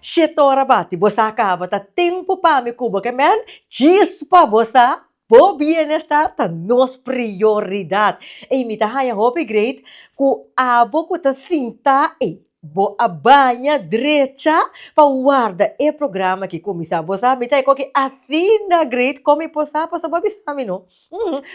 Shit ora bati bo sa kaba ta tempu pami kubo ke men chispa bo sa bo bienestar ta nos prioridad ey mi ta haña hopi great ku abo ku ta sinta ey bo a baña drecha pa warda e programa aki kuminsa bo sa mi ta e koki asina great komi por sa paso bo a bisa mi no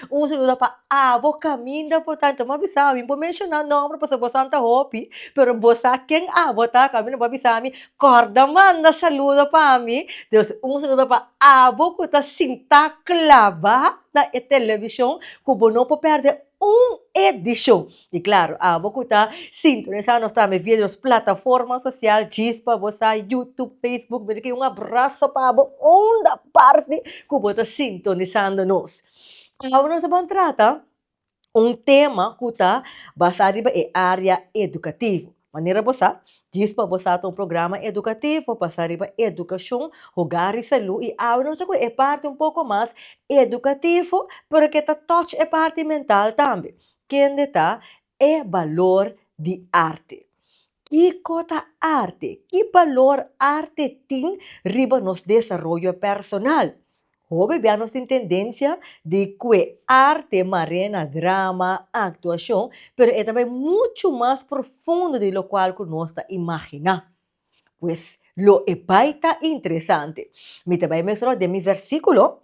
Un saludo pa abo caminda por tanto mi a bisa mi por menciona nomber pasobra bosan ta hopi pero bo sa ken abo ta caminda bo a bisa mi corda manda saludo pa mi dus un saludo pa abo cu ta sinta claba na e television cu bo no por perde un edicion. I klaru, abo ku ta sintonisá nos tambe via di nos plataforma sosial, djis pa bo sa Youtube, Facebook, mi ta kiri un abraso pa bo unda parti ku bo ta sintonisando nos. Awe nos ta ban trata un tema ku ta basá riba e área edukativo. Manera bo sa, djis pa bo sa ta un programa edukativo basá riba edukashon, hogar i salú i awe nos ta kue e parti un poko mas edukativo pero ke ta touch e parti mental tambe. Kende ta e balor di arte? Kiko ta arte? Ki balor arte tin riba nos desaroyo personal? Hopi bia nos tin tendensia di kue arte mar'é na drama, aktuashon, pero e ta bai muchu mas profundo di lokual ku nos ta imaginá. Pues, lo e bai ta interesante. Mi ta bai mesora den mi versíkulo.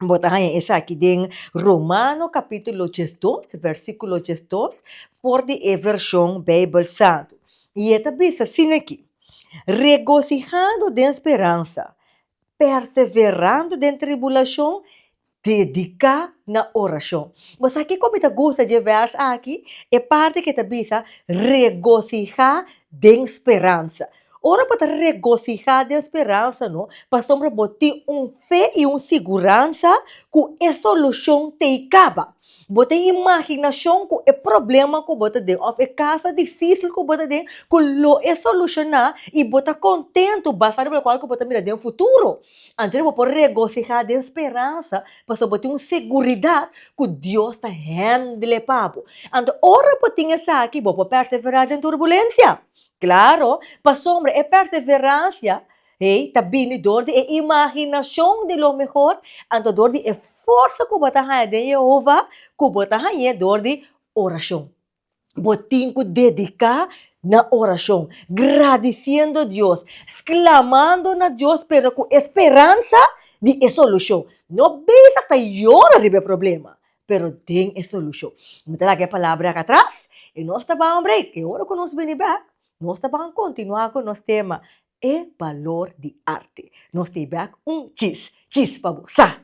bo ta haña esaki den Romano capítulo diesdos, versículo diesdos, for di e version Bijbel Santu. I e ta bisa sin aki, Regocijando den speransa, perseverando den tribulacion, dedica na oracion. Bo sa kico mi ta gusta di e vers aki? E parti ke ta bisa, regocija den speransa. Ora bo ta regosihá den speransa no, pasobra bo tin un fe i un siguransa ku e solushon ta i kaba. Bo tin imaginashon ku e problema ku bo ta den òf e kaso difísil ku bo ta den ku lo e solushoná i bo ta kontentu basá riba lokual ku bo ta mira den futuro. Anto bo por regosihá den speransa pasobra bo tin un seguridat ku Dios ta hèndele pa bo. Anto ora bo tin esaki bo por perseverá den turbulensia. Claro, pasobra e perseverancia ei ta bini dor di e imaginacion di lo mehor, anto dor di e forsa cu bo ta haña den Jehova, cu bo ta hañ'é dor di oracion. Bo tin cu dedicá na oracion, gradiciendo Dios, sclamando na Dios pero cu e speransa di e solucion. No bisa asta yora riba e problema, pero den e solucion. Mi ta laga e palabra aka atras, y nos ta ban un break, y ora cu nos bini bek, nos ta ban continua cu nos tema, E balor di arte. Nos ta e bek un chis, chis pa bo sa!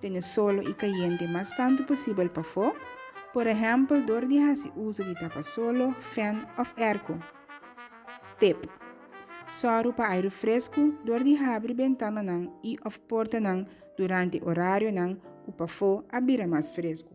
Tene solo i kayente mas tantu posibel pafó, por ehèmpel dor di hasi uso di tapasolo, fèn òf èrko. Tep. Sòru pa airu fresku dor di habri bentananan i òf portanan durante orarionan ku pafó a bira mas fresku.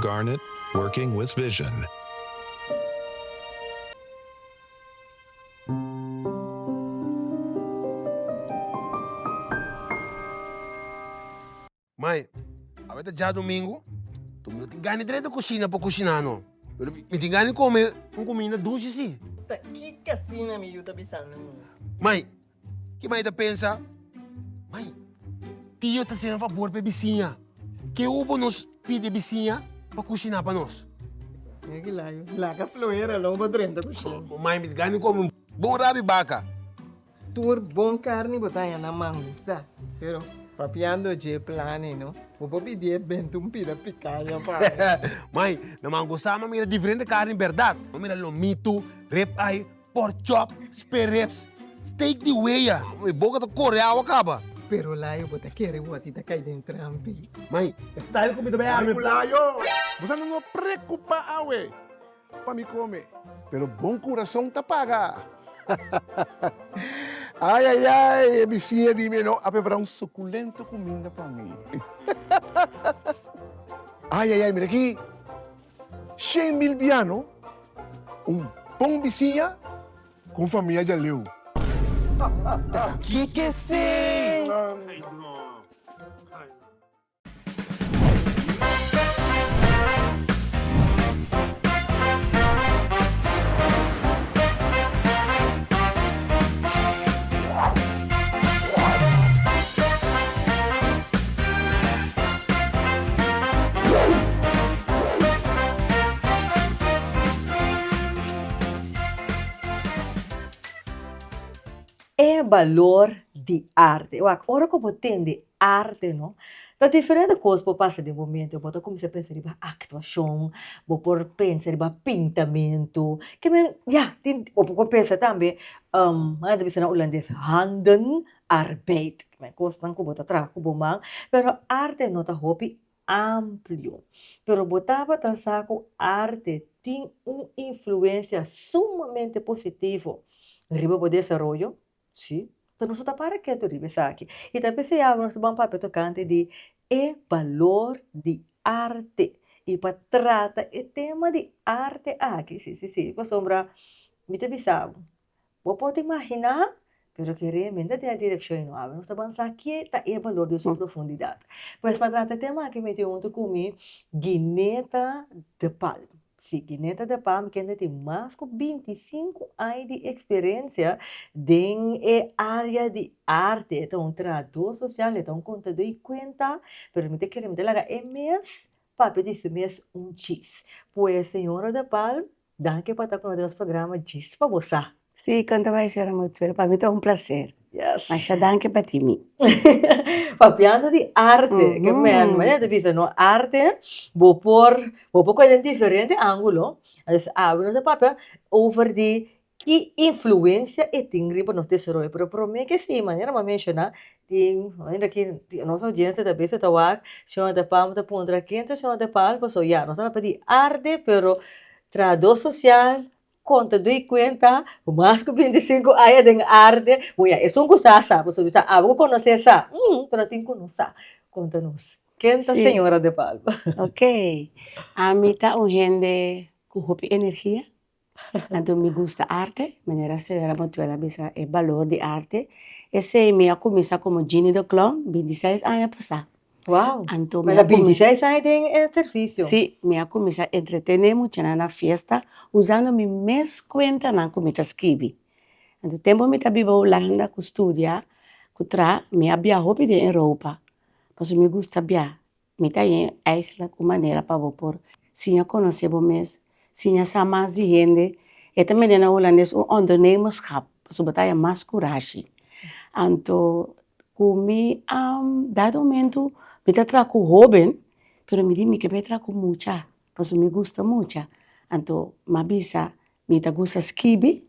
Garnet, Working with Vision. Mai, awe ta djadomingo, tu no tin gana di bai na kushina pa kushiná no. Pero mi tin gana di kome un kuminda dushi sí. Ta ki kasina mi yu ta bisando mi? Mai. Ki mai ta pensa, Mai, tio ta hasinan fabor pa e bisiña. Ke hu bo nos pidi e bisiña pa kushiná pa nos? Mira ki laga, laga fluera lo bo drenta kusina. Bo mai mit gani komo un bon rabi baka. Tur bon karni bo ta haña na mangusa, pero papiando dje plani no, bo por pidié bènt un pida pikaña pa mi. Mai, na mangusa mi a mira diferente karni bèrdat. Mi a mira lomitu, rib eye. Pork chop, spare ribs, steak di wea. Mi boca ta core awa caba. Pero layo bo ta kere bo a ti ta cay den trampi. Mai, e style cu mi ta bay arme cu layo. Bosa no no preocupa awe pa mi come. Pero bon curason ta paga. Ay ay ay, e biciña di mi e no a prepara un suculento cuminda pa mi. Ay ay ay, mira aki. Shane mil biano, un bon bisiña ku un famia djaleu. Ta kik'e sey? E balor di arte. Wak, ora ku bo tende Arte no ta diferente kos por pasa den bo mente bo ta kuminsá pensa riba aktuashon bo por pensa riba pintamentu kimen ya tin bo por pensa tambe nan ta bisa na hulandes handen arbeid kimen kosnan ku bo ta traha ku bo man pero arte no ta hopi amplio pero bo tabata sa ku arte tin un influensia sumamente positivo riba bo desaroyo Sí. Ta nos ta para ketu riba esaki y ta p'esei awe nos ta ban papia tocante di e balor di arte y pa trata e tema di arte aki, sí sí sí, pasobra mi ta bisabo bo por ta imagina pero ke realmente tin e direccion y no awe nos ta ban sa ke ta e balor den su profundidad. Pues pa trata e tema aki mi tin hunto cu mi Gineta de Palma. Si Kineta de Pam kende tin mas ku binti i sinku aña di eksperensia den e área di arte. E ta un trahadó sosial, e ta un kontadó i kuenta, pero mi ta kere mi ta laga e mes papia di su mes un chis. Pues señora de Pam, danki pa ta ku nos den nos programa Djis pa bo sa. Sí con ta bai sera motor pa mi ta un placer yes masha danki pa ti mi papiando di arte ke men mane ta bisa no arte bo por bo por kos den diferente angulo entonces awe nos a papia over di ki influencia e tin riba nos desaroyo pero prome ke si manera bo a menshona tin manera ki nos audiencia ta bisa ta wak señor de palma ta puntra ken ta señor de palma paso ya nos a papia di arte pero trahado social Kon ta dui kuenta? Ku mas ku binti sinku aña den arte, bo ya esun ku sa, sa, bo su bisa abo ku konosé sa, hm, pero tin ku no sa. Kon ta nos. Ken ta señora de Palma? Ok, ami ta un hende ku hopi energia, anto mi gusta arte, manera señora Motuel a bisa e balor di arte, esei mi a kuminsá komo Genie de Clown binti seis aña pasá. Wou! Anto mi a Manda binti seis aña den e servisio. Sí, mi a cuminsá entretené muchanan na fiesta usando mi mes cuentanan cu mi ta skibi. Anto tempo mi ta biba Hulanda cu studia cu trá mi a bia hopi den Europa pasobra mi gusta bia. Mi ta yen eigenlijk un manera pa bo por siña conoce bo mes. Si ña sa mas di hende, e ta mende na Holandes un ondernemerschap, pasobra bo ta haña mas kurashi. Anto ku mi a dado momentu mi ta traha ku hóben, pero mi di mi ke bai traha ku mucha, pasobra mi gusta mucha, anto mi a bisa mi ta gusta skibi.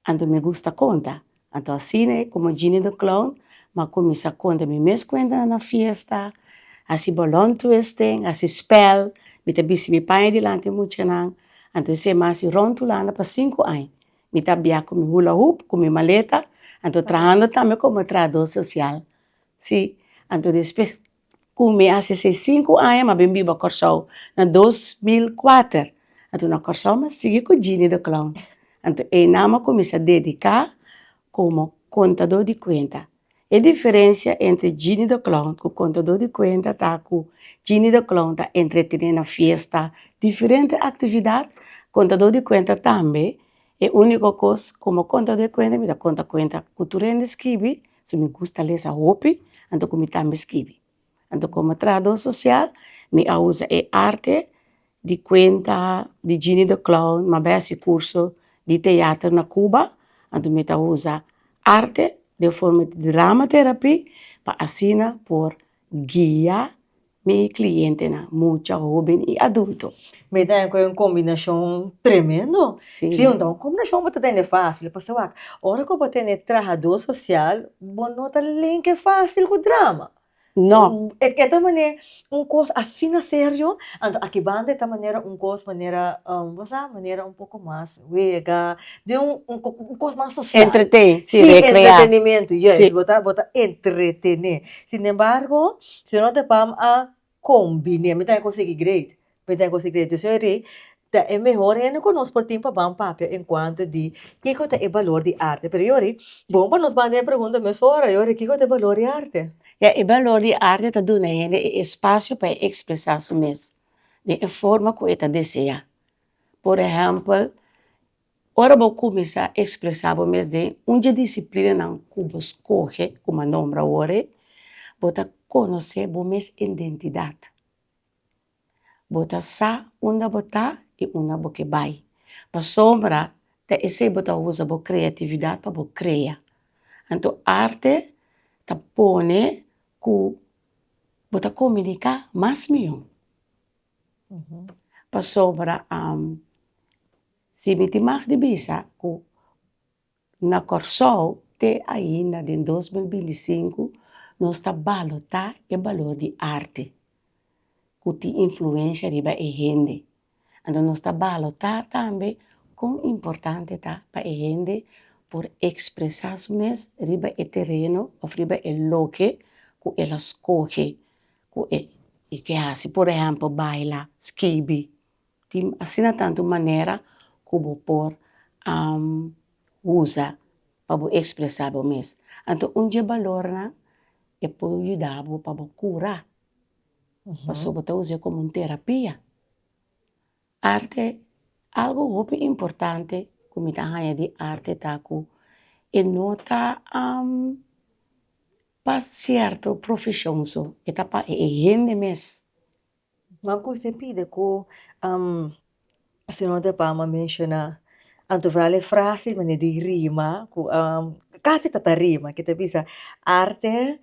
Anto mi gusta konta. Anto asina e komo Genie the Clown m'a kuminsá konta mi mes kuentanan na fiesta, hasi bolon twisting, hasi spèl, mi ta bisti mi paña dilanti e muchanan. Anto esei m'a hasi Rond Hulanda pa sinku aña. Mi ta bia ku mi hula hoop, ku mi maleta, anto trahando tambe komo trahadó sosial. Sí, anto despues Cu me a sesenta y cinco aña m'a bin biba Corsou na dos mil kuater, anto na Corsou m'a sigui cu Jeanny de Clown, anto eina m'a cuminsa dedica como contador di cuenta. E diferencia entre Jeanny de Clown cu contador di cuenta ta cu Jeanny de Clown ta entretene na fiesta, diferente actividad, contador di cuenta tambe, e unico cos como contador di cuenta mi ta conta cuenta cu tur hende scribi, Si mi gusta lesa hopi anto komo mi tambe skibi anto komo trahadó sosial mi a usa e arte di kuenta di Gini de clown mi a bai hasi kurso di teater na Cuba anto mi ta usa arte den forma di drama terapi pa asina por guia. Mi clientenan, mucha hoben y adulto. Mi ta cu e un combinacion tremendo. Si. Si, un combinacion bo ta tene facil, e pasobra wak, ora cu bo tene trahador social, bo no ta linke facil cu drama. No. E ta mane un cos asina serio, anto aki banda e ta manera un cos manera, bo sa, manera un poco mas. Wega, di un, un, un kos mas sosial. Entretén, si, rekreá. Si, entretenimiento, yes. Si. Bo ta, bo ta entretené. Sin embargo, si no ta pam a kombiné, mi ta den konsigi great, mi ta den konsigi great. Diosu a rei, ta e mehor hende ku nos por tin pa ban papia en kuantu di kiko ta e balor di arte. Pero yori, bon pa nos ban den e pregunta mesora yori, kiko ta e balor di arte? Ya, e balor di arte ta duna hende e espasio pa e ekspresá su mes den e forma ku e ta deseá. Por ehèmpel, ora bo kuminsá ekspresá bo mes den un dje disiplinanan ku bo skohe, ku m'a nombra awor-e, bo ta konosé bo mes indentidat, bo ta sa unda bo ta i unda bo ke bai. Pasobra ta esei bo ta usa bo kreatividat pa bo krea. Anto arte ta pone ku bo ta komuniká mas mihó. Pasobra si mi tin mag di bisa ku na kòrsou te ainda den dos mil binti sinku nos ta balotá e balor di arte ku tin influensha riba e hende anto nos ta balotá tambe kon importante ta pa e hende por ekspresá su mes riba e tereno òf riba e loke ku el a skohe. Ku e i ke hasi, por ehèmpel baila, skibi, tin asina tantu manera ku bo por usa pa bo ekspresá bo mes, anto un dje balornan e por yuda bo pa bo kura, pasobra bo ta us'é komo un terapia. Arte, algu hopi importante ku mi ta haña di arte ta ku e no ta Pa sierto profesion so e ta pa e hende mes. Ma cu se pide cu Senor de Palma menciona Anto Vral e frase di manera di rima cu casi ta ta rima que ta bisa arte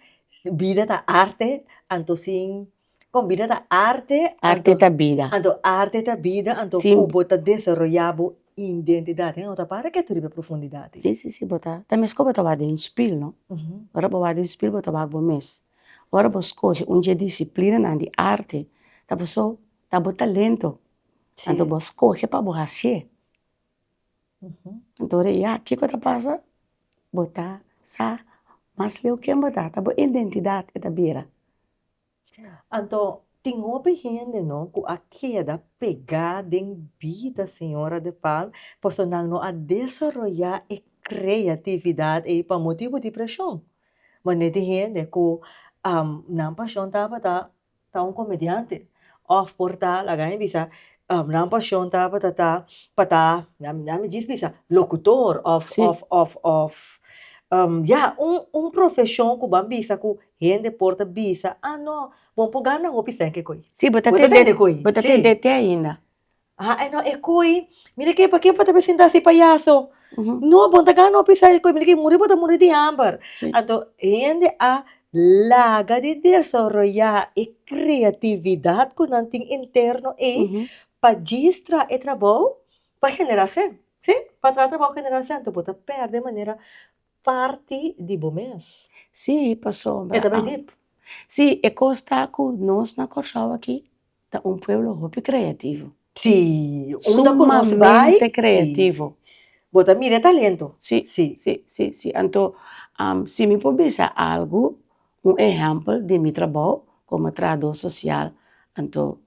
vida ta arte anto sin Kon bida ta arte. Arte ta bida. Anto arte ta bida, anto si bo ta desaroya bo identidad hen awe ta para ke tur riba profundidad di. Si si si bo ta ta mes kon bo ta wak den spil no, ora bo wak den spil bo ta wak bo mes, ora bo skohe un dje disiplinanan di arte ta paso ta bo talento anto bo skohe pa bo hasié anto ora ya kiko ta pasa bo ta sa mas leu ken bo ta ta bo identidad e ta bira. Anto, tin hopi hende no ku a keda pegá den bida Señora de Palm paso nan no a desaroyá e kreatividat ei pa motibu di preshon. Mane di hende ku nan pashon tabata ta un komediante òf por ta, laga mi bisa, nan pashon tabata ta pa ta, laga mi djis bisa, lokutor òf òf òf òf, ya, un profeshon ku ban bisa ku Hende por ta bisa, ah no, bon por gana hopi sèke koi. Sí, bo ta tende koi. Bo ta tende te ainda. Ah, eh no, e koi, mira ke, pakiko bo ta presentá así payaso? No, bon ta gana hopi sèke koi, mira ke, muri bo ta muri di hamber. Anto, hende a laga di desaroyá e kreatividat ku nan tin interno ei pa djistra e trabou pa generasèn. Sí, pa traha trabou generasèn. Anto bo ta pèrdè manera parti di bo mes. Sí, pasobra. E ta bai dip. Sí, e kos ta ku nos na Kòrsou aki ta un pueblo hopi kreativo. Sí, unda ku nos bai. Sumamente kreativo. Bo ta mira e talento. Sí, sí, sí, sí. Anto, si mi por bisa algu, un ehèmpel di mi trabou komo trahadó sosial, anto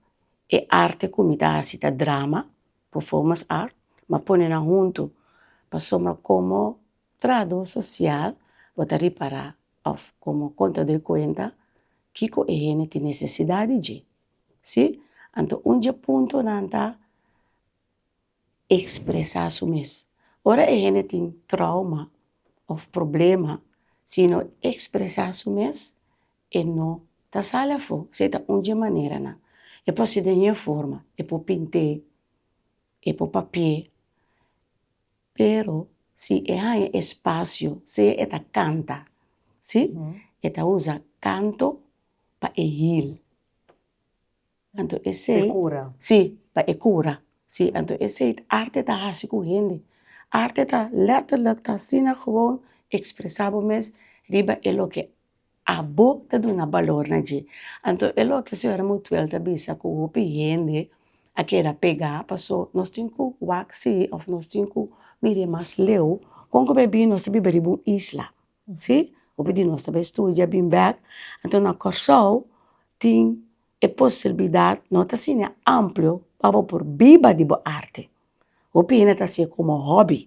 e arte ku mi ta hasi ta drama, Performance art m'a pone nan huntu pasobra komo trahadó sosial bo ta ripará òf komo kontadó e kuenta kiko e hende tin nesesidat di dje, si? Anto un dje puntonan ta ekspresá su mes. Ora e hende tin trauma òf problema si e no ekspresá su mes e no ta sali afó, si e ta un dje maneranan, e por si den un e forma, e por pint'é, e por papi'é, pero si e haña espasio sea e ta kanta si e ta uza kanto pa e hil. Anto esei. Pe cura. Si, pa e cura. Si, anto esei ta arte ta haci cu hende. Arte ta letterlijk ta asina gewoon expresa bo mes riba e loke abo ta duna balor na dje. Anto e loke señora Mutuel ta bisa cu hopi hende a keda pega paso nos tin cu waxi of nos tin cu mire mas leu con cu baby nos ta biba riba un isla. Si, hopi di nos ta bai studia bin bèk, anto na Kòrsou tin e posibilidad, no ta asina amplio pa bo por biba di bo arte, hopi hende ta hasi'e komo hòbi,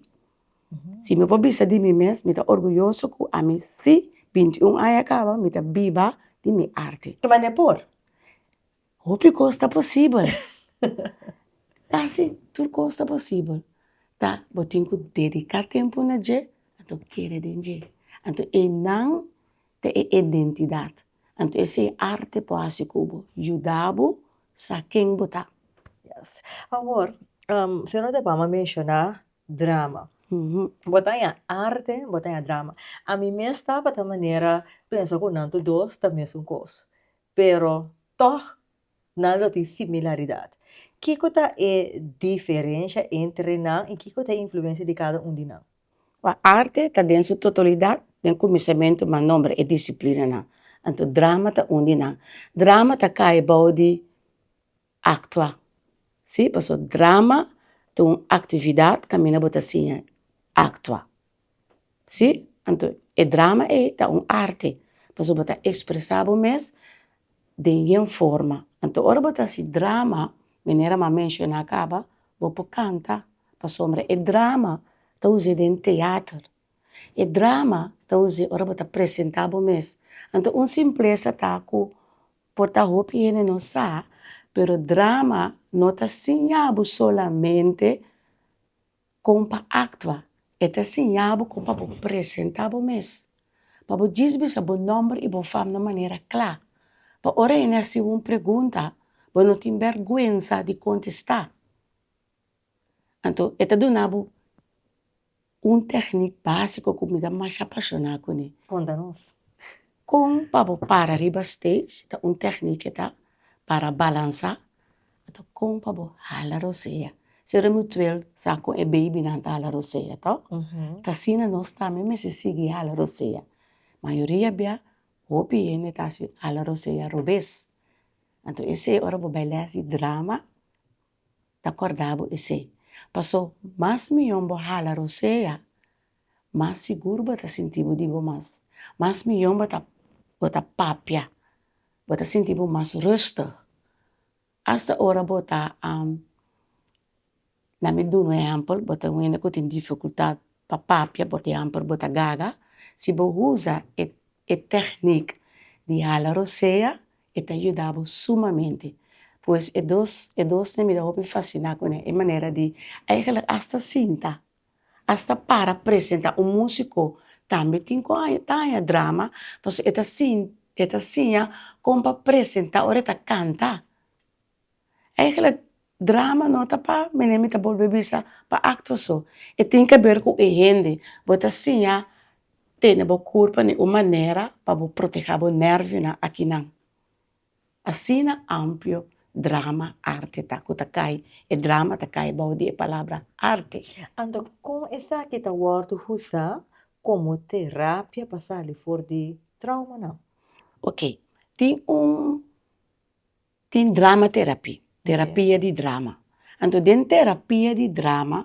si no por bisa di mi mes mi ta orguyoso ku ami si bintiun aña a kaba mi ta biba di mi arte. Ke manera por? Hopi cos ta posibel casi tur cos ta posibel ta bo tin cu dedica tempo na dje anto kere den dje anto e nan ta e identidad anto ese e arte po haci cu bo yudabo sa ken bo ta. Awor señor a debamba menciona drama bo ta haya arte bo ta haya drama ami mes tabata manera pensa cu nan tur dos ta mesun cos Pero tòg nan lo tin similaridat. Kiko ta e diferensha entre nan i kiko ta e influensia di kada un di nan? Kua arte ta den su totalidat den kuminsamentu mas nòmber e disiplinanan? Anto drama ta un di nan. Drama ta kai bou di aktua. Sí, pasobra drama ta un aktividat kaminda bo ta siña aktua. si anto e drama ei ta un arte pasobra bo ta expresa bo mes den yen forma anto ora bo ta hasi drama manera m'a menciona caba bo por canta pasobra e drama ta use den teater e drama ta use ora bo ta presenta bo mes anto un simpleza ta cu por ta hopi hende no sa pero drama no ta siña bo solamente Kon pa aktua. E ta siña bo kon pa bo presentá bo mes, pa bo djis bisa bo nòmber i bo fam na manera kla, pa ora hende a hasi bo un pregunta bo no tin bèrgwensa di kontestá. Anto e ta duna bo un tèknik básiko ku mi ta masha apashoná kuné. Konta nos. Kon pa bo para riba stage ta un tèkniki ta para balansá ato kon pa bo hala rosea. Si Remutuel sa kon e beibinan ta hala rosea to ta asina nos tambe mester sigui hala rosea. Mayoria bia hopi hende ta hasi hala rosea robes anto esei ora bo bai lès di drama ta kòrda bo esei. Paso mas mihó bo hala rosea mas sigur bo ta sinti bo di bo mas, mas miyon bo ta bo ta papia, bo ta sinti bo mas rustig, asta ora bo ta na mi duna un ehempel bo ta un hende ku tin dificultad pa papia por ehempel bo ta gaga si bo uza e e teknik di hala rosea e ta yuda bo sumamente pues e dos e dos na mi ta hopi fasina kuné e manera di eigenlik asta sinta asta para presenta un músiko tambe tin ku haña ta haña drama pasobra e ta sin e ta siña kon pa presentá ora e ta kanta. Eigenlijk drama no ta pa mene mi ta bolbe bisa pa acto so e tin ke ber ku e hende bo ta siña tene bo kurpanan un manera pa bo protehá bo nervionan akinan. Asina amplio drama arte ta ku ta kai e drama ta kai bou di e palabra arte. Anto kon esaki ta wòrdu usa komo terapia pa sali for di traumanan? Ok, tin un tin drama terapi, terapia di drama. Anto den terapia di drama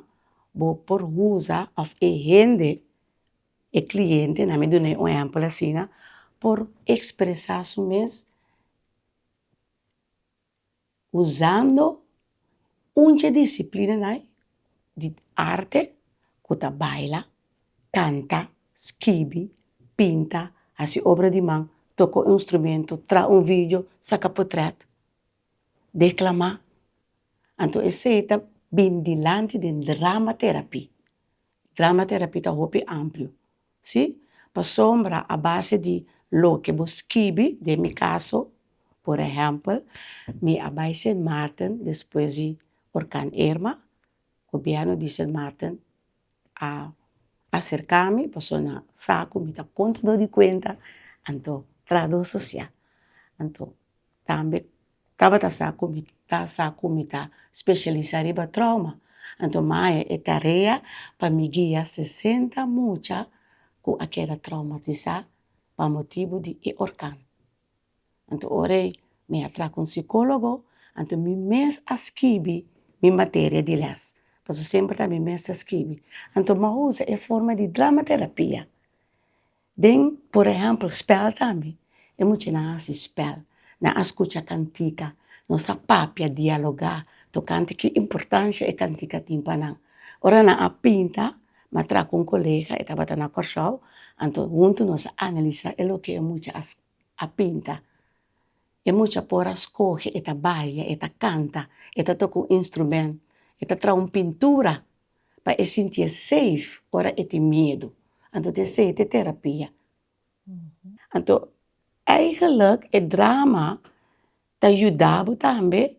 bo por usa òf e hende E cliente, na mi dun'e un ehempel asina, por expresa su mes usando un dje disciplinanan di arte cu ta baila, canta, skibi, pinta, haci obra di man, toca un instrumento, traha un video, saca portret, declama. Anto esey ta bin dilanti den drama therapy. Grammaterapy ta hopi amplio, si? Pasobra a base di loke bo skibi, den mi caso, por ehempel, mi a bai Sint Maarten despues di Orkan Irma, Gobièrnu di Sint Maarten a aserka mi pasobra nan sa ku mi ta kontador di kuenta, anto, trahador sosial, anto tambe Tabata sa ku mi ta sa ku mi ta speshialisá riba trauma, anto mi a haña e tarea pa mi guia sesenta mucha ku a keda traumatisá pa motibu di e orkan. Anto ora ei mi a traha ku un sikólogo, anto mi mes a skibi mi materia di lès, pasobra semper ta mi mes ta skibi, anto mi a usa e forma di dramaterapia Den, por ehèmpel, spèl tambe. E muchanan a hasi spèl, nan a skucha kantika, nos a papia, dialogá, tokante ki importansha e kantika tin pa nan. Ora nan a pinta, m'a traha ku un kolega, e tabata na Kòrsou, anto huntu nos a analisá e loke e mucha a a pinta. E mucha por a skohe e ta baila, e ta kanta, e ta toka un instrumènt, e ta traha un pintura. pa e sintié safe ora e tin miedu. Anto ta esei ta e terapia. Anto eigenlik e drama ta yuda bo tambe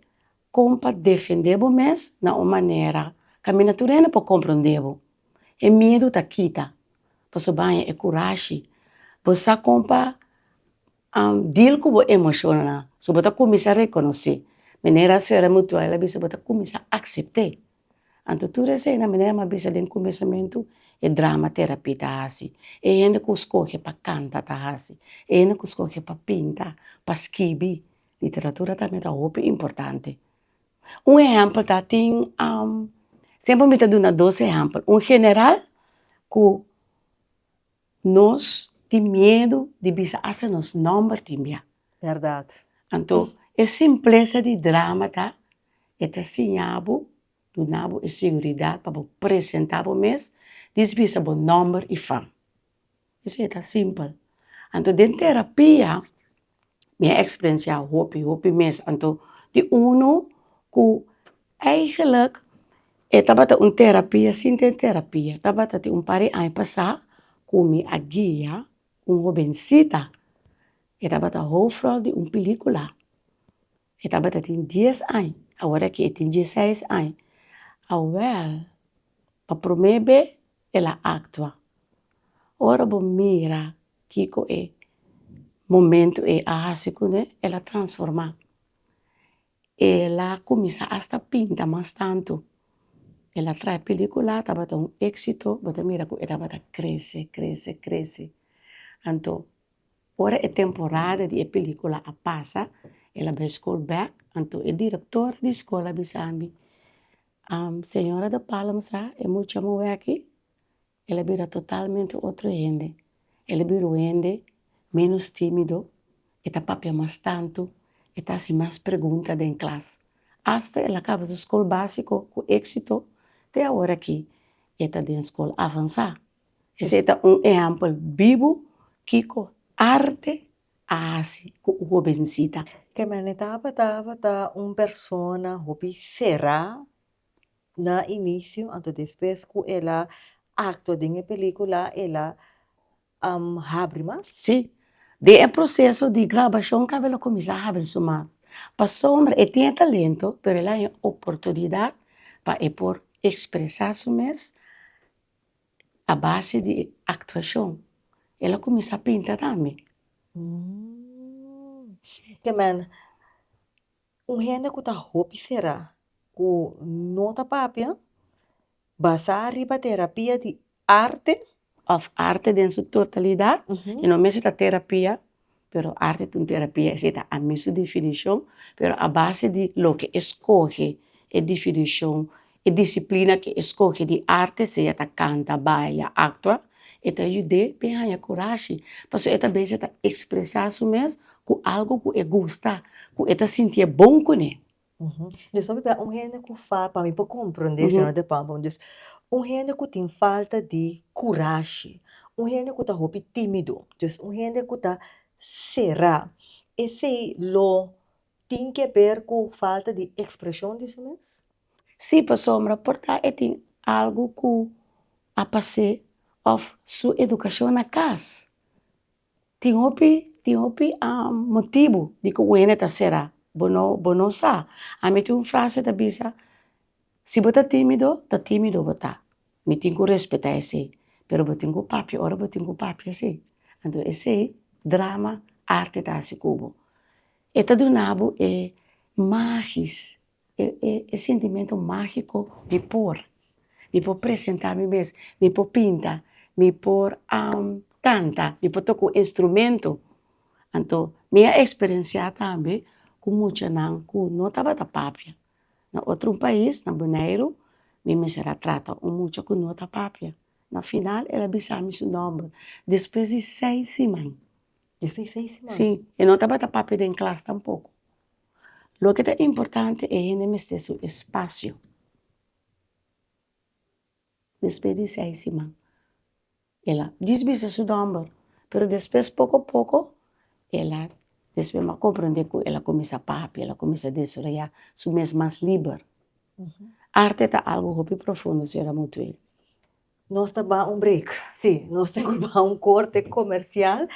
kon pa defendé bo mes na un manera ka mi nature no por komprondé bo. E miedu ta kita paso baña e kurashi, bo sa kon pa deal ku bo emoshonnan, so bo ta kuminsá rekonosé, manera sra. Mutual a bisa bo ta kuminsá aksept'é. Anto tur esei na manera mi a bisa den kumesamentu e drama terapi ta hasi, e hende ku skohe pa kanta ta hasi, e hende ku skohe pa pinta, pa skibi, literatura tambe ta hopi importante. Un ehèmpel ta tin siempre mi ta duna dos ehèmpel un general ku. Nos tin miedu di bisa asta nos nòmber tin bia. Bèrdat. Anto e simplesa di drama ta e ta siña bo, duna bo e siguridat pa bo presentá bo mes dis bisa bo nòmber i fam. Esei ta simpel. Anto den terapia. mi a experencia hopi hopi mes anto di uno ku eigenlik e tabata un terapia sin den terapia tabata tin un par de aña pasa ku mi a guia un hobensita e tabata hoofdrol di un película. E tabata tin dies añ, awor aki e tin dieseis añ. Awèl, pa promé be el a aktua. Ora bo mira kiko e momentu ei a hasi kuné, el a transformá. El a kuminsá asta pinta mas tantu. El a traha pelikulá, tabata un éksito, bo ta mira ku e tabata krese, krese, krese. Anto Ora e temporada di e pelicula a pasa, el a bai skol bek, anto e directora di skol a bisa ami, Am, señora de Palm sa e mucha moe aki? El a bira totalmente otro hende, el a bira un hende menos timido, e ta papia mas tantu, e ta hasi mas pregunta den klas, hasta el a kaba su skol básico ku éksito, te aworakí e ta den skol avansá. Esei ta un ehèmpel bibu kiko arte a hasi ku un hobensita. Ke Menetapa tabata un persona hopi será na inicio anto despues ku el a actua den e pelicula el a habri mas? Sí, den e proceso di grabacion kaba el a cuminsa habri su mas, pasobra e tin e talento pero el a haña oportunidad pa e por expresa su mes a base di e actuacion el a cuminsa pinta tambe. Te manda un hende cu ta hopi sera cu no ta papia basa riba terapia di arte. Of arte den su totalidad y no mester ta terapia pero arte di un terapia esi ta ami su definishon pero a base di loke e skohe e definishon e disiplina ke e skohe di arte sea ta kanta baila aktua e ta yud'é p'e haña kurashi pasobra e ta bisa ta ekspresá su mes ku algu ku e gusta ku e ta sintié bon kuné. Dios lo papia un hende cu fal pa mi por comprende e señor de pau pa mi dios un hende cu tin falta di curashi un hende cu ta hopi timido dios un hende cu ta cera esey lo tin que ber cu falta di expresion di su mes? Si pasobra por ta e tin algo cu a pase of su educacion na cas. Tin hopi tin hopi motibu di ku un hende ta sera bo no bo no sa ami tin un frase ta bisa si bo ta timido ta timido bo ta mi tin ku respeta esei pero bo tin ku papia ora bo tin ku papia si anto esei drama arte ta hasi ku bo e ta duna bo e magis e sentimentu mágiko di por di por presentá mi mes di por pinta di por kanta di por toka un instrumento anto mi a experienciá tambe ku muchanan ku no tabata papia na otro un pais na bonaire mi mester a trata un mucha ku no ta papia na final el a bisa mi su nomber despues di seis siman si e no tabata papia den klas tampoco Loke ta importante e hende mester su espacio, despues di seis siman el a djis bisa su dòmber pero despues poco poco el a despues el a comprende ku el a kuminsá papia el a kuminsá desarrolla su mes mas liber. Arte ta algo hopi profundo señora Mutwe. Nos ta baha un break. Sí, nos tin cu baha un corte comercial.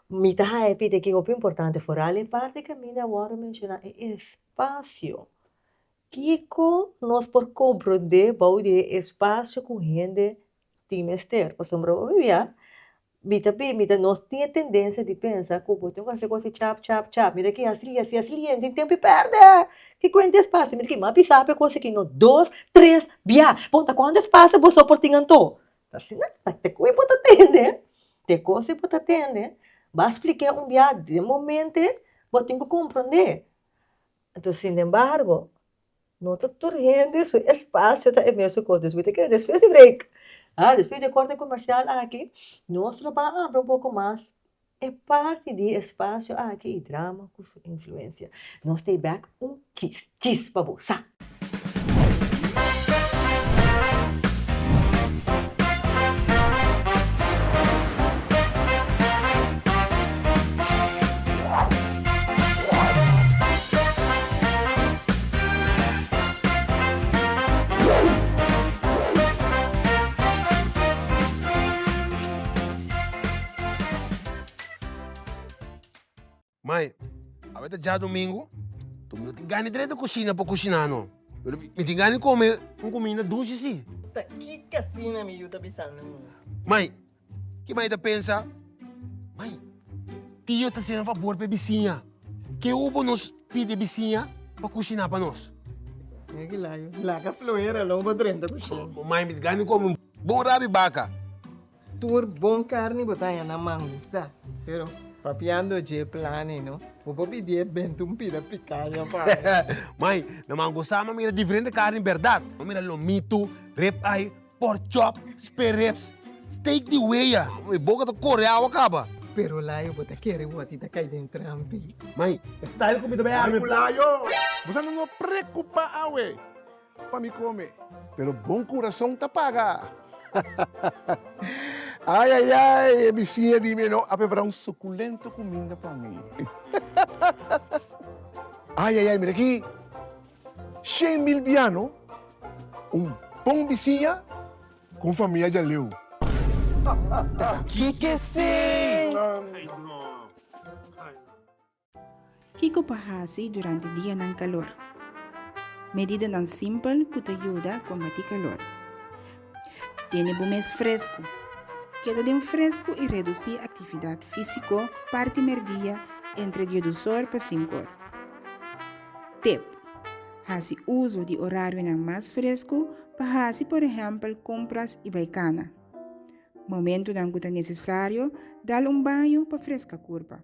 Mi ta happy de que hopi importante foral e parti caminda a worde menciona e espacio. Kico nos por comprende bou di e espacio cu hende tin mester? Pasobra bo a bibia Mi ta bin, mi ta nos tin e tendensia di pensa ku bo tin ku hasi kosnan chap chap chap, mira ki hasi li, hasi li, hasi li, no tin tempu di pèrdè, ki kuenta e spasio, mira ki, m'a bisa p'e kos aki, no, dos, tres, bia, punta kuantu spasio boso por tin anto? Asina ta, te ku bo ta tende, te kos bo ta tende, b'a splik'é un bia den momente bo tin ku komprondé, enton, sinembargo, No ta tur hende su espacio ta e mesun cos despues di kila despues di break ah despues di e corte comercial aki nos lo ba abri un poco mas e parti di e espacio aki y drama cu su influencia nos stay back un kiss kiss pa bo sa. Mai, awe ta djadumingu, mi no tin gana di renta kushina pa kushina no, pero mi tin gana di kome un kuminda dushi si. Ta ki kasina mi yu ta bisanda mi? Mai. Ki mai ta pensa, Mai, tio ta hasinan fabor pa e bisiña. Ke hu bo nos pidi e bisiña pa kushiná pa nos? Laga fluera lo bo drenta kusina. Bo mai mester gana komo un bon rabi baka. Tur bon karni bo ta haña na mangusa, pero papiando dje plani no, bo por pidié benta un pida pikaña pa mi. Mai, na mangusa lo mira diferente karni bèrdat. Lo mira lomitu, rib eye. Pork chop, spare ribs, steak di wea. Mi boca ta core awa caba. Pero layo bo ta kere woti ta cay den trampi. Mai, e style cu mi ta bay arme cu layo. Bosa no no preocupa awe pa mi come. Pero bon curason ta paga. Ay ay ay, e biciña di mi e no a prepara un suculento cuminda pa mi. Ay ay ay, mira aki. Shen mil biano, un bon bisiña ku un famia djaleu. Ta aki ke esei! Kiko pa hasi durante dianan kalor? Medidanan simpel ku ta yuda kombatí kalor. Tene bo mes fresku. Keda den fresku i redusí aktividat físiko parti merdia entre diedusor pa sinkor. Tep, Hasi uso di orarionan mas fresku pa hasi por ehèmpel kompras i bai kana. Momentunan ku ta nesesario dal un baño pa freska kurpa.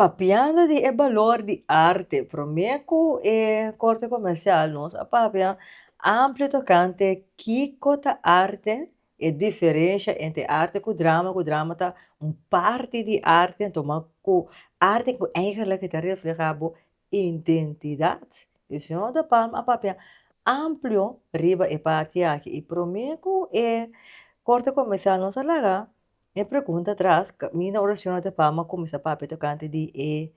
Papiando di e balor di arte, promé ku e korte komersial nos a papia amplio tokante kiko ta arte E diferensha entre arte ku drama ku drama ta un parti di arte anto ma ku arte ku eigenlik e ta refleha bo identidat e señor de Palma a papia amplio riba e parti aki i prome ku e korte komersal nos a laga e pregunta tras kaminda ora señor de Palma a kumesa papia tokante di e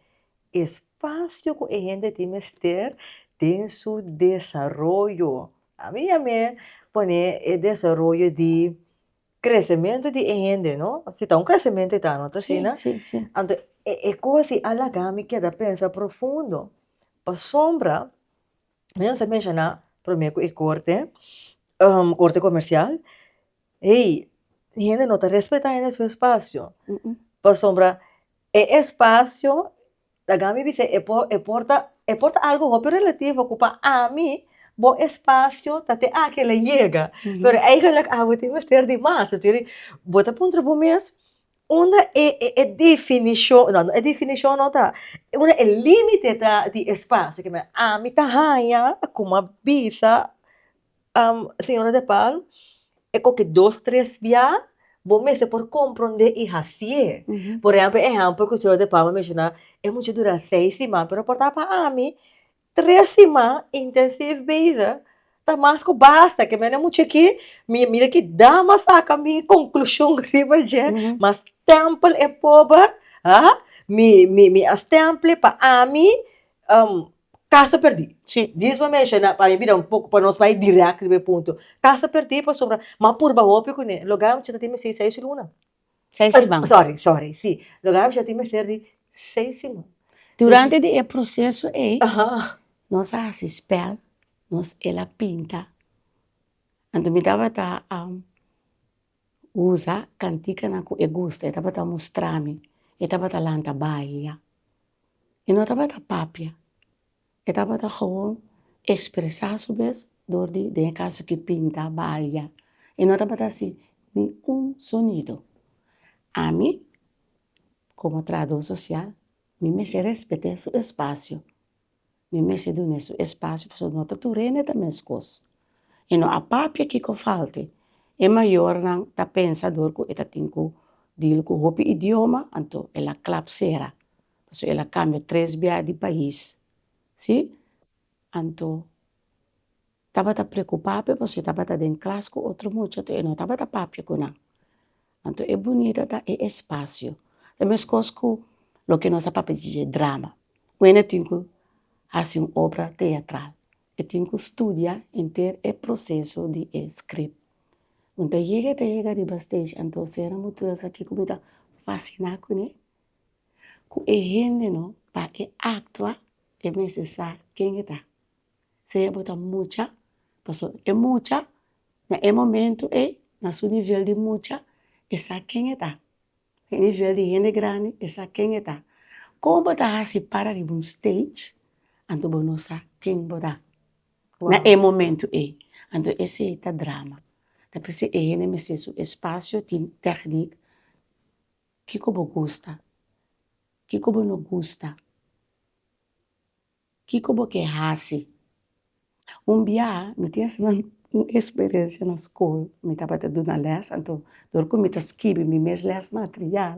espasio ku e hende tin mester den su desaroyo. Ami ya me pone e desaroyo di kresementu di e hende no si ta un kresementu e ta no ta asina? Sí, sí, sí. Anto e kos ei a lagami keda pensa profundo pasobra mi no sa menshona prome ku e korte korte komersial ei hende no ta respetá hende su espasio pasobra e espasio Dagami bis'é, e por e por ta e por ta algu hopi relativo ku pa ami bo espasio ta te aki el a yega, pero eigenlik abo tin mester di mas, tu skiri bo ta puntra bo mes unda e e e definishon no no e definishon no ta unda e límite ta di espasio ku ami ta haña kuma bisa Señora de Palm, e koke dos tres bia, bo mester por komprondé i hasié. Por ehèmpel, e ehèmpel ku Señora de Palm a menshoná, e mucha dura seis siman, pero por ta pa ami, tres siman intensív bezig ta mas ku basta. Ke mene mucha aki, mi mira ki dama a saka mi konklushon riba dje, mas stèmpel e poba, ha, mi a stèmpl'e pa ami, Kasa perdí. Sí. Djis bo a menshoná pa mi bira un poko pa nos bai dirèk riba e punto. Kasa perdí pasobra m'a purba hopi kuné. Lugá mi a bichá ta tin mester seis luna. Seis siman. Sòri, sòri, sí. Lugá mi a bichá ta tin mester di seis siman. Durante di e proseso ei, nos a hasi spèl, nos el a pinta. Anto mi tabata. usa cantikanan cu e gusta e tabata mustrami e tabata lanta baila e no tabata papia e tabata gewoon expresa su bes dor di den e caso di pinta baila e no tabata haci ni un sonido ami como trabajador social mi mester respete su espacio. Mi mester dun'é su espacio pasobra no ta tur hende ta meskos y no a papia kiko falta. E mayornan ta pensa dor ku e ta tin ku dil ku hopi idioma anto el a klap sera pasobra el a kambia tres bia di pais si anto Tabata preocupá p'e pasobra tabata den klas ku otro mucha to'e no tabata papia ku nan. Anto e bunita ta e espasio, ta meskos ku loke nos a papia dje drama, weno e tin ku hasi un obra teatral, e tin ku studia henter e proseso di e script. Bo ta yega ta yega riba stage anto sera bo tur esa kiko bo ta fasina kuné, ku e hende no pa e actua e mester sa ken e ta. sea bo ta mucha, pasobra e mucha na e momento ei, na su nivel di mucha, e sa ken e ta, na e nivel di hende grandi e sa ken e ta. Kon bo ta hasi para riba un stage, anto bo no sa ken bo ta na e momento ei, anto esei ta drama, ta per se e hende mester su espacio tin techniek, kiko bo gusta, kiko bo no gusta. Kiko bo ke hasi? Un bia mi tin asina un experencia na skol, mi tabata duna lès, anto dor ku mi ta skibi mi mes lès material,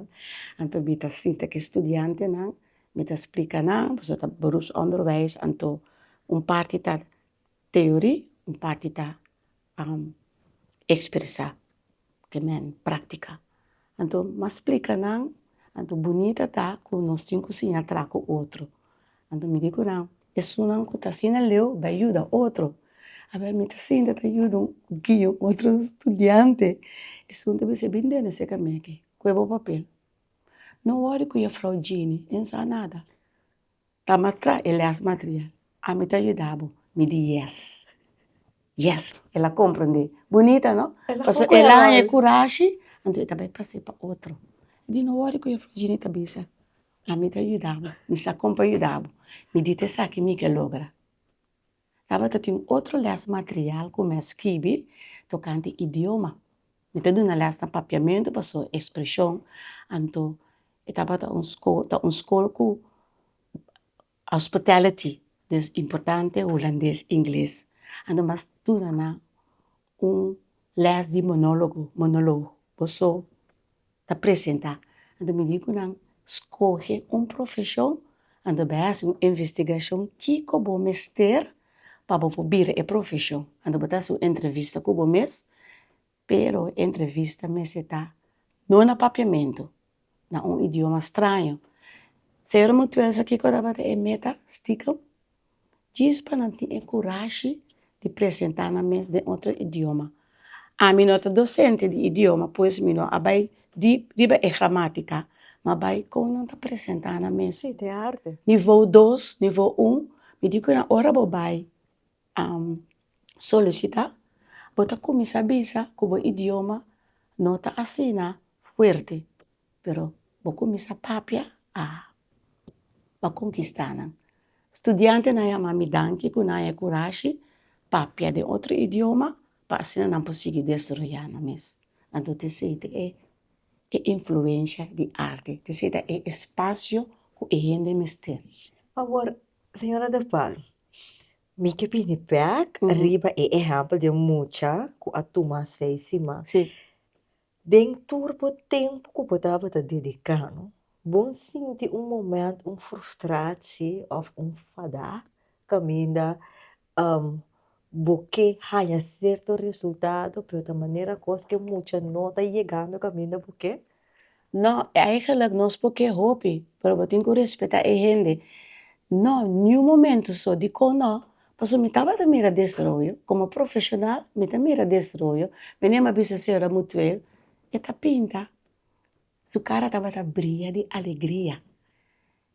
anto mi ta sinta ke studiantenan, mi ta splika nan, boso ta beropsonderwijs, anto un parti ta teori, un parti ta a ekspresá ke men práktika. Anto m'a splika nan anto bunita ta ku nos tin ku siña tra ku otro. Anto mi di ku nan esunnan ku ta asina leu bai yuda otro. A bai mi ta sinta ta yuda un guia un otro studiante esun ta bis'é bin dene se kameke kue bo papel. No wòri ku Jèfrou Jini e sa nada. Ta mastra e lès material. Ami ta yuda bo, mi di yes, yes. El a komprendé. Bunita no? Pasobra el a haña e kurashi, anto e ta bai p'hasi pa otro. Di no wòri ku Yafweh Jini ta bisa, Ami ta yuda bo, mi sa kon pa yuda bo, mi di ta esaki mi ke logra. Tabata tin otro lès material ku mi a skibi tokante idioma. Mi ta duna lès na Papiamentu paso e spreshon anto e tabata un skol ta un skol ku hospitality dus importante hulandes ingles anto mas duna nan un lès di monologo monoloo paso ta presentá, anto mi di ku nan, skohe un profeshon, anto bai hasi un investigashon kiko bo mester pa bo por bira e profeshon, anto bo ta hasi un entrevista ku bo mes, pero e entrevista mester ta no na papiamentu, na un idioma straño, ser mutuel sa kiko tabata e meta stikum? Djis pa nan tin e kurashi di presentá nan mes den otro idioma. Ami no ta dosente di idioma pues mi no a bai dip riba e gramátika, ma bai kon nan ta presentá nan mes. Nivou dos, nivou un, mi di ku nan ora bo bai solisitá bo ta kuminsá bisa ku bo idioma no ta asina fuerte. Pero bo cuminsa papia a pa conquista nan. Studiantenan a yama mi danki cu nan a e curashi papia den otro idioma pa asina nan por sigui desroya nan mes. Nan tur tin siti e influencia di arte, tin siti e espacio cu e hende mester. Awor, señora del Palo, mi ke bini bek riba e ehempel di e mucha cu a tuma seis siman. Si. Den tur bo tempu ku bo tabata dediká no, bo sinti un moment un frustrasi òf un fadá kaminda bo ke haña serto resultado pero ta manera kos ke mucha no ta yegando kaminda bo ke? No, eigenlijk nos por ke hopi pero bo tin ku respetá e hende. No, niun momentu so di kon no Paso mi tabata mira desroyo, como profesional mi ta mira desroyo, mi nem a bisa señora Mutuel e ta pinta, su cara tabata bria di alegria,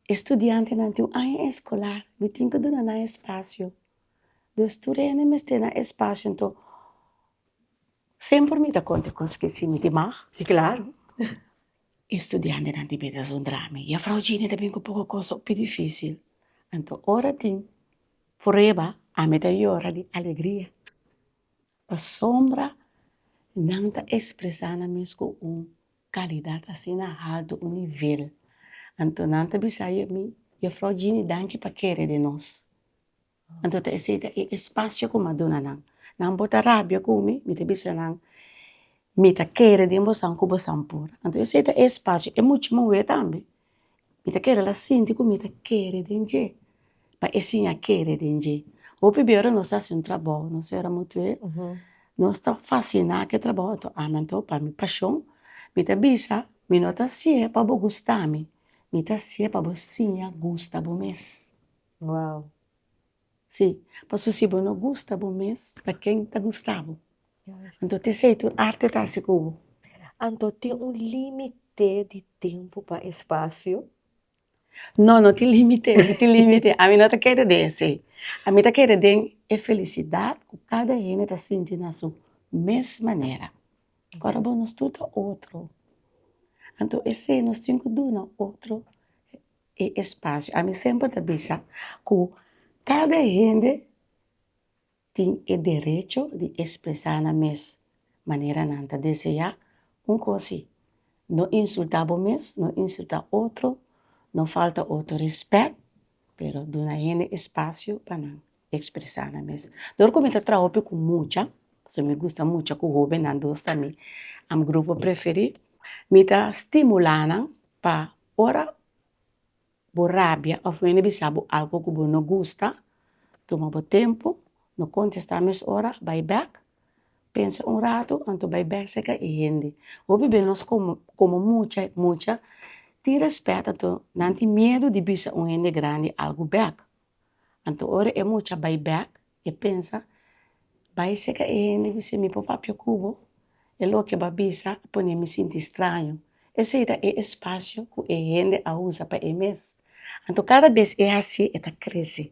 e studiantenan tin un aña escolar mi tin ke duna nan espacio, dus tur hende mester nan espacio nto semper mi ta konta cos ke si mi tin mag, di claro. E studiantenan tin bira esun drami y a Frou Jeannie ta bin cu poco cos hopi dificil. Anto ora tin prueba ami ta yora di alegria pasobra nan ta expresa nan mes cu un calidad asina halto, un nivel. Anto nan ta bisa mi y a Frou Jeannie danki pa kere di nos. Anto ta esei ta e espacio cu mi a duna nan. Nan bo ta rabia cu mi, mi ta bisa nan, mi ta kere den bosan cu bosan por. Anto esei ta e espacio, e mucha mo wee tambe, mi ta kere la sinti cu mi ta kere den dje, pa e siña kere den dje. Hopi bey ora nos ta haci un trabou, nos cera mutuer, nos ta fascina cu e trabou, anto ami anto pa mi pasion, mi ta bisa, mi no ta haci'e pa bo gustami, mi ta haci'e pa bo siña gusta bo mes. Wow. Sí, paso si bo no gusta bo mes, ta ken ta gusta bo? Anto ta esei tur arte ta haci cu bo. Anto tin un limite di tempo pa espacio? No, no tin limite, no tin limite. Ami no ta kere den esei. Ami ta kere den e felicidad cu cada hende ta sinti na su mes manera. Ora bo nos tur ta otro, anto esei nos tin cu duna otro e espasio, ami semper ta bisa ku kada hende tin e derecho di espresá nan mes manera nan ta deseá, un kos si, no insultá bo mes, no insultá otro, no falta otro respèt, pero duna hende espasio pa nan espresá nan mes, dor ku mi ta traha hopi ku mucha, pasobra mi gusta mucha ku hóbennan dos ta mi grupo preferí, mi ta stimulá nan pa Ora bo rabia of wende bisa bo algo ku bo no gusta, tuma bo tempu, no kontestá mes ora, bai bèk, pensa un ratu, anto bai bèk seka e hende. Hopi den nos komo komo mucha mucha tin rèspèt anto nan tin miedu di bisa un hende grandi algu bèk, anto ora e mucha bai bèk E pensa, Bai e seka e hende ku si mi por papia ku bo? E loke bo a bisa a pone mi sinti straño. Esei ta e espasio ku e hende a usa pa e mes. Anto kada bes e hasi e ta krese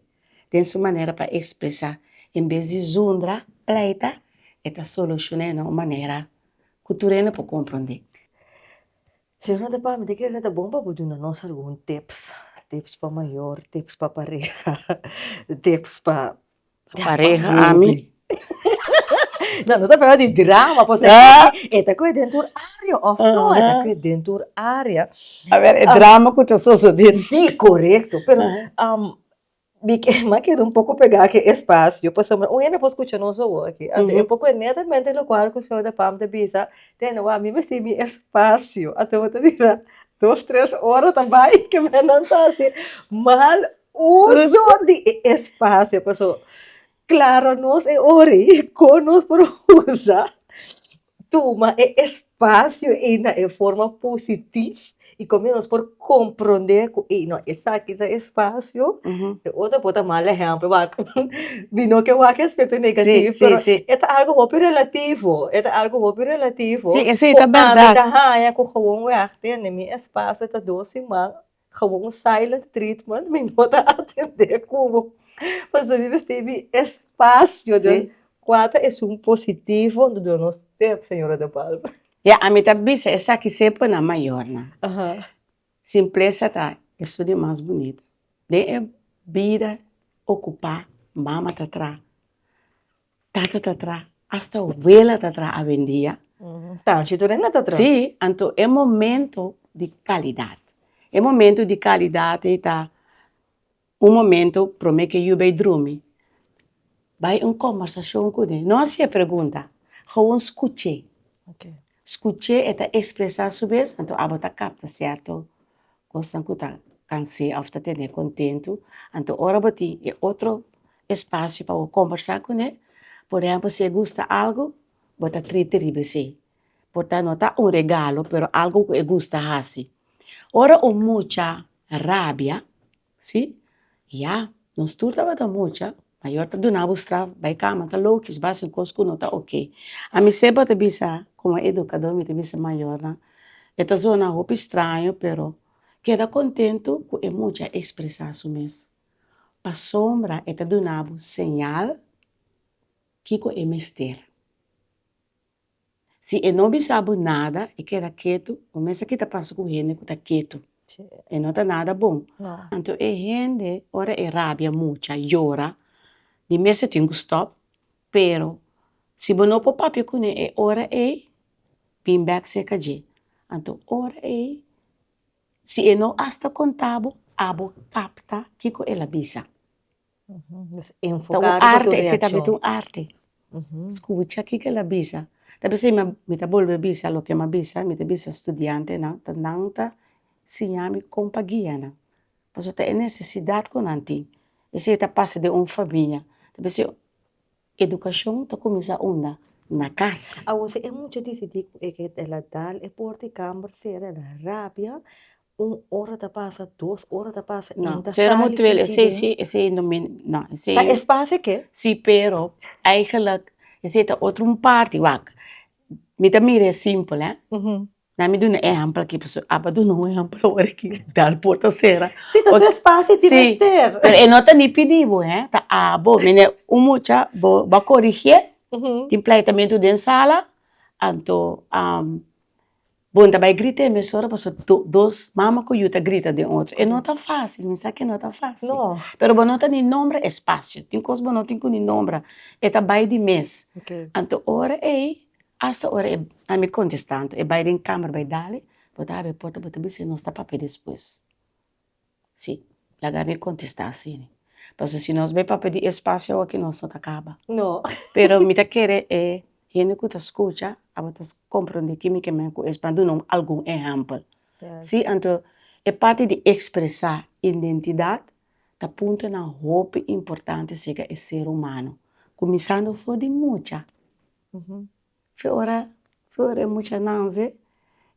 den su manera pa ekspresá. En bes di zundra pleita, e ta solushoná na un manera ku tur hende por komprondé. Si bo no ta pami, di kila ta bon pa bo duna nos algun tips, tips pa mayor, tips pa pareha, tips pa Pareha ami? No, no ta hablando di drama por si acaso, e ta koe den tur área of no e ta koe den tur área. A ber e drama ku ta sosodé. Sí, korekto, pero Mi kema keda un poco pegá ke espacio, pasobra un hende por scucha nos awo aki. Anto e poco e netamente locual cu señor Depam ta bisa, Tene wak, mi mester mi espacio. Anto bo ta bira dos, tres ora ta bai ke nan ta haci mal uso di e espacio. Pasobra clara nos e ora ei, con nos por usa. tuma e espacio ei na e forma positif y komin nos por comprende ku ei no esaki ta e espacio, e otro por ta mal ehempel wak mi no ke wak aspecto negatif pero e ta algo hopi relativo e ta algo hopi relativo ku ami ta haña ku gewoon wèk tende mi espacio ta dos siman. Gewoon un silent treatment mi no ta atende kubo pasobra mi mester bin espacio den kua ta esun positivo un dor nos tep señora de palma. Ya ami ta bisa esaki semper na mayornan simplesa ta esun di mas bunita den e bida ocupa mama ta traha Tata ta tra, hasta abuela ta tra avendia. Tanchi tur nan ta tra. Sí, anto e momento di calidad. E momento di calidad ei ta un momento prome ke yu bay drumi, bay un conversacion kune, no hacié pregunta, gewoon scuché. Scuch'é e ta expresá su bes, anto abo ta capta cierto cosnan cu ta cans'é of ta ten'é contento, anto ora bo tin e otro espacio pa bo conversá cun'é, por ehemplo si e gusta algo bo ta triste riba esey, por ta no ta un regalo pero algo cu e gusta haci. Ora un mucha rabia Sí, ya, nos tur tabata mucha, mayor ta duna bo straf, bay cama ta lokish, ba haci cos cu no ta ok. A mi sepa ta bisa, como educador mi ta bisa mayornan, e ta zona hopi straño pero keda contento cu e mucha a expresa su mes, pasobra e ta duna bo señal kico e mester. Si e no bisa bo nada e keda ketu, bo mes a kita pasa ku hende ku ta ketu, e no ta nada bon. Anto e hende ora e rabia muchu, a yora, di mes e tin ku stòp, pero si bo no por papia kuné e ora ei, bin bèk serka dje, anto ora ei si e no asta konta bo, abo kapta kiko el a bisa. Ta un arte, ese tabata un arte, skucha kiko el a bisa, ta bisa mi, mi ta bolbe bisa loke mi a bisa, mi ta bisa studiantenan ta nan ta siña mi kon pa guia nan, pasobra ta e nesesidat ku nan tin, ese ta pasa den un famia, ta bisa. Educacion ta cuminsa unda? Na cas. Awor si e mucha dicidi cu e ke el a dal e porta di camber cera el a rabia un ora ta pasa dos ora ta pasa No, sera mutuel esey si esey no mi no esey Ta espacio ke? Si pero eigenlijk esey ta otro un parti wak mi ta mira e simpel eh Na mi duna ehempel aki pasobra e aba duna un ehempel awor aki dal por ta sera. Si ta su espacio e tin mester. Pero e no ta ni pidi bo he ta abo mene un mucha bo a corigie tin pleitamiento den sala anto bon ta bay grita e mes ora pasobra do dos mama cu yu ta grita den otro e no ta facil mi sa ke no ta facil pero bo no ta ni nombra espacio tin cos bo no tin cu ni nombra e ta bay di mes anto ora ey. Asta ora e a mi kontestá anto e bai den kamer bai dale bo ta abri e porta bo ta bisa nos ta papia despues si laga mi kontestá asina pasobra si nos bai papia di espacio awor ki nos no ta kaba pero mi ta kere e hende ku ta skucha abo ta komprende kimi ke bai ku es pan duna un algun ehèmpel si anto e parti di ekspresá identidat ta puntonan hopi importante sega e ser humano kuminsando for di mucha Fe ora flor e mucha nanse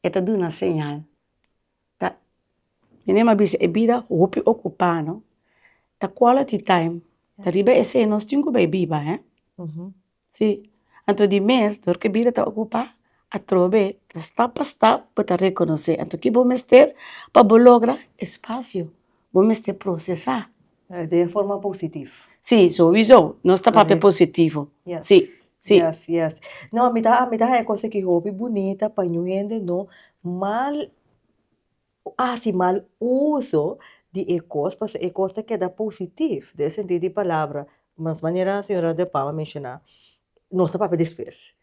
e ta duna señal ta mi misma bisa e bida hopi ocupá no ta quality time ariba esei nos tin cu bay biba he si anto di mes dor cu e bida ta ocupá atrobe ta stap pa stap bo ta reconoce anto kibo mester pa bo logra espacio bo mester procesá Di e forma positif. Sí, sowiso, nos ta papia positivo. Yes. Sí, sí. Yes, yes. No, mi ta, mi ta haña cosa ki hopi bunita pa ñu hende no mal hasi mal uso di e cos, paso e cos ta keda positif, den e sentido di palabra, mas manera señora De Palma a menciona, nos ta papia despues.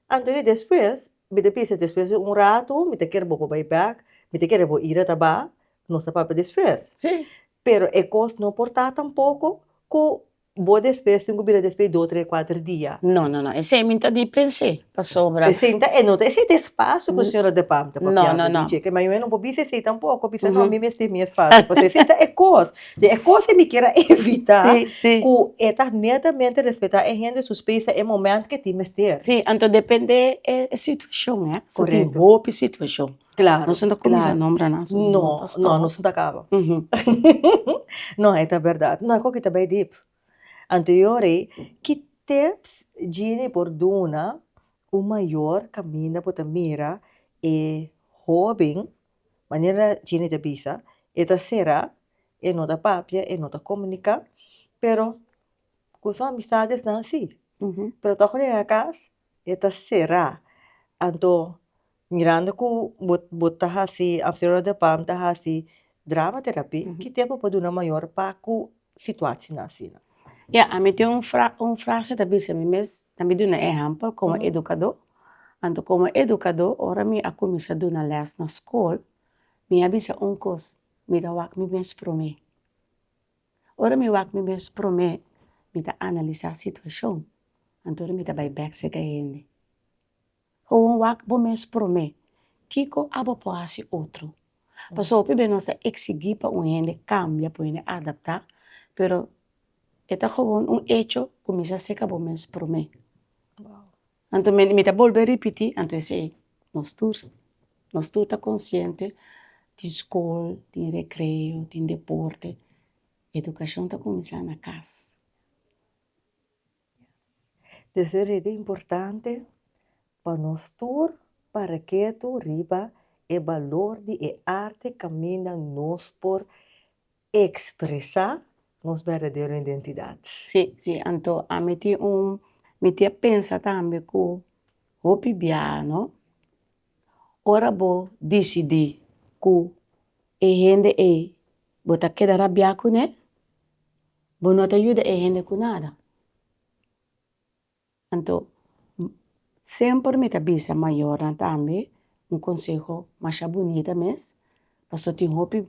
Anto di despues, mi ta bisa despues di un rato, mi ta kere bo pa bai bek, mi ta kere bo ira ta ba, nos ta papia despues. Sí. Pero e cos no por ta tampoco cu bo despues tin cu bira despues dos, tres, cuater dia. No, no, no, esey mi ta di pens'e, pasobra. Esey ta, no ta esey ta e spacio cu señora De Pam ta papia ta di dje, ma mi no por bisa esey tampoco, bisa no mi mester mi espacio, pasobra esey ta e cos, den e cos e mi kier a evita cu e ta netamente respeta e hende su space ta e moment cu e tin mester. Si, anto depende e situacion, so tin hopi situacion. Claro, claro. Nos no ta cuminsa a nombra nan asina no a pastor. No, nos no ta caba. no, e ta berdad. No, e coki ta bay dip. Anterior ey, ki tips Jeanny por duna un mayor caminda por ta mira e hoben, manera Jeanny ta bisa, e ta cera, e no ta papia, e no ta comunica, pero cu su amistades nan si. Pero toco llega cas, e ta cera. Anto, Mirando cu bo bo ta haci Amsterdam de Palm ta haci drama terapi ki tempo bo por duna mayor pa cu situacion asina? Ya ami tin un fra un frase ta bisa mi mes na mi duna ehempel como educador anto como educador ora mi a cuminsa duna les na school mi a bisa un cos mi ta wak mi mes prome ora mi wak mi mes prome mi ta analisa situacion anto mi ta bay bek seca hende. Bo a wak bo mes promé, kiko abo por hasi otro? Pasobra hopi bes nos a eksigi pa un hende kambia, pa un hende adaptá, pero e ta gewoon un hecho, kuminsá seka bo mes promé. Anto mi ta bolbe ripití, anto esei nos tur, nos tur ta konsiente tin skol, tin rekreo, tin deporte, edukashon ta kuminsá na kas. Entonces e redi importante pa nos tur para ketu riba e balor di e arte kaminda nos por ekspresá nos berdadero identidat. Sí, sí, anto ami tin un, mi tin a pensa tambe ku hopi biaha no, ora bo disidí ku e hende ei bo ta keda rabiá kuné, Bo no ta yuda e hende ku nada. Anto semper mi ta bisa mayornan tambe un konseho masha bunita mes, paso tin hopi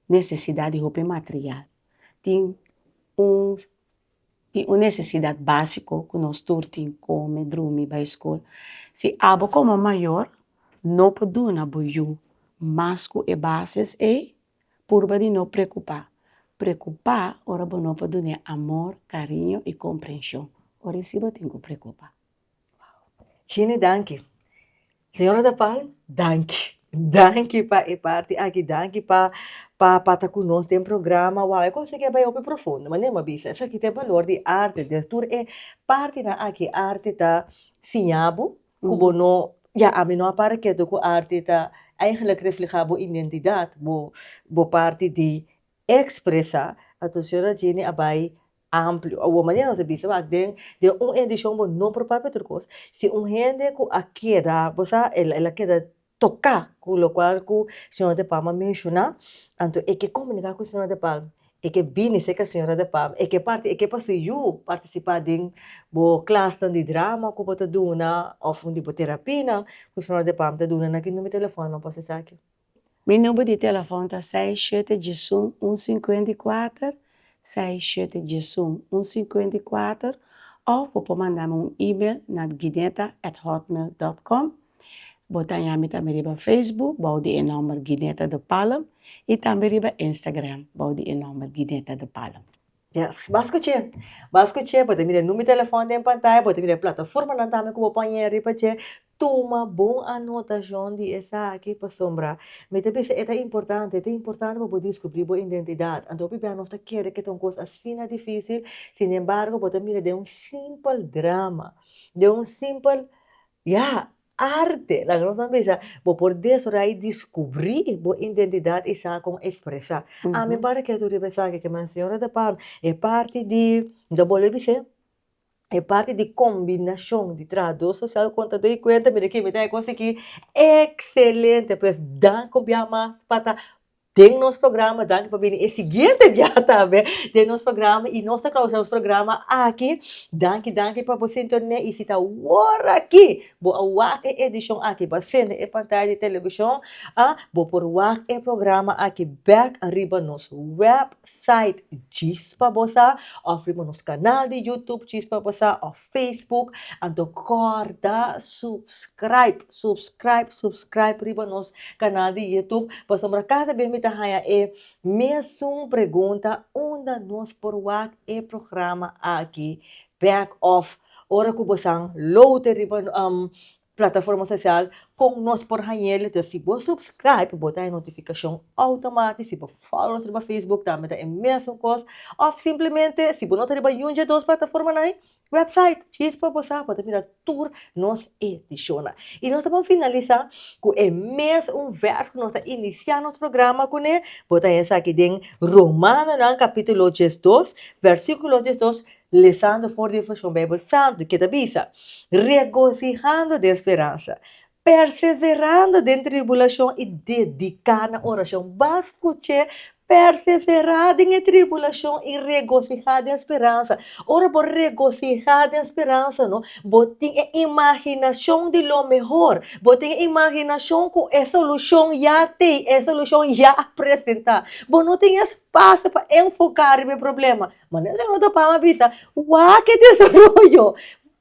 nesesidat di hopi material, tin un tin un nesesidat básiko ku nos tur tin, kome, drumi, bai skol, si abo komo mayor no por duna bo yu mas ku e bases ei Purba di no preokupá. Preokupá ora bo no por dun'é amor, kariño i komprenshon. Ora i si bo tin ku preokupá. Wow! Chini danki. Señora de Palm, danki. Danki pa e parti aki, danki pa pa ta ku nos den programa. Wow, e kos aki a bai hopi profundo, ma nen bo a bisa. Esaki ta e balor di arte. Des tur e partinan aki, arte ta siña bo, ku bo no ya ami no a para ketu ku arti ta eigenlik reflehá bo identidat bo bo parti di ekspresá anto señora Jenny a bai amplio awor manera nos a bisa wak den den un edishon bo no por papia tur kos si un hende ku a keda bo sa el a keda toka cu locual cu señora de palma menciona anto e ke comunica cu señora de palma e ke bini cerca señora de palma e ke parti e ke pasobra yu participa den bo clasnan di drama cu bo ta duna of di bo terapinan cu señora de palma ta duna na ki numero di telefonnan bo pasa esaki. Mi number di telefon ta seis shete djesun un cincuenta y cuater Seis shete djesun un sinkuenta i kuater òf bo por manda mi un email na gineta at hotmail dòt kòm. Bo ta haña mi tambe riba Facebook bou di e nòmber Gineta de Palm i tambe riba Instagram bou di e nòmber Gineta de Palm. Yes, bas ku dje! Bas ku dje, bo ta mira e numero di telefòn den pantaya, bo ta mira e plataformanan tambe ku bo por haña riba dje. Tuma bon anotacion di esaki pasobra mi ta bisa e ta importante. Ta importante pa bo descubri bo identidad. Anto biba nos ta kere ke ta un cos asina dificil, sin embargo bo ta mira den un simpel drama, den un simpel, ya, arte. Laga nos nan bisa bo por desarroya y descubri bo identidad y sa con expresa. Ami para ketu riba esaki ke mi a siñora ta pami e parti di, mi ta bolbe bis'e, e parti di combinacion di trabajador social cu contador y cuenta mira aki mi ta haci cosaki excelente pues danki un bia mas pa ta den nos programa danki pa bini e siguiente bia tambe den nos programa y nos ta clausura nos programa aki danki danki pa bo sintonia y si ta wor aki bo a wak e edicion aki bo a sende e pantaya di television ah bo por wak e programa aki back ariba nos web site Chispa Bosa of riba nos kanal di YouTube Chispa Bosa of Facebook. Anto kòrda subscraib, subscraib, subscraib riba nos kanal di YouTube pasobra kada bes mi ta haña e mesun pregunta, unda nos por wak e programa aki bèk? Òf ora ku bosan loute riba Plataforma Social kon nos por hañel ta si bo subscribe bo ta haña notifikashon outomatis si bo follow nos riba Facebook tambe ta e mesun kos òf simplemente si bo no ta riba niun dje dos plataformanan website chispa bo sa bo ta mira tur nos edishonnan i nos ta bon finalisá ku e mes un vèrs ku nos ta inisiá nos programa kuné bo ta haña sa aki den Romanonan kapítulo diesdos vèrsikulo diesdos Lezando for di e vershon Bijbel Santu, ke ta bisa, Regosihando den speransa, perseverando den tribulashon i dediká na orashon. Bas ku che, Perseverá den e tribulashon i regosihá den speransa. Ora bo regosihá den speransa no, bo tin e imaginashon di lo mehor, bo tin e imaginashon ku e solushon ya tei, e solushon ya a presentá. Bo no tin espasio pa enfoká riba e problema, Ma nan solo ta pama bisa, wak e desaroyo,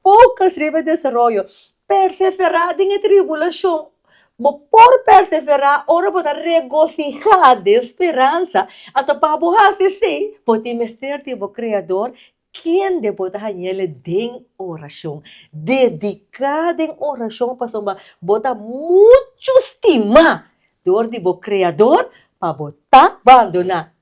focus riba e desaroyo, perseverá den e tribulashon. Bo por perseverá ora bo ta regosihá den speransa. Anto pa bo hasi esei, bo tin mester tin bo Kreador kende bo ta hañ'El den orashon. Dediká den orashon pasobra bo ta muchu stimá dor di bo Kreador pa bo ta bandoná.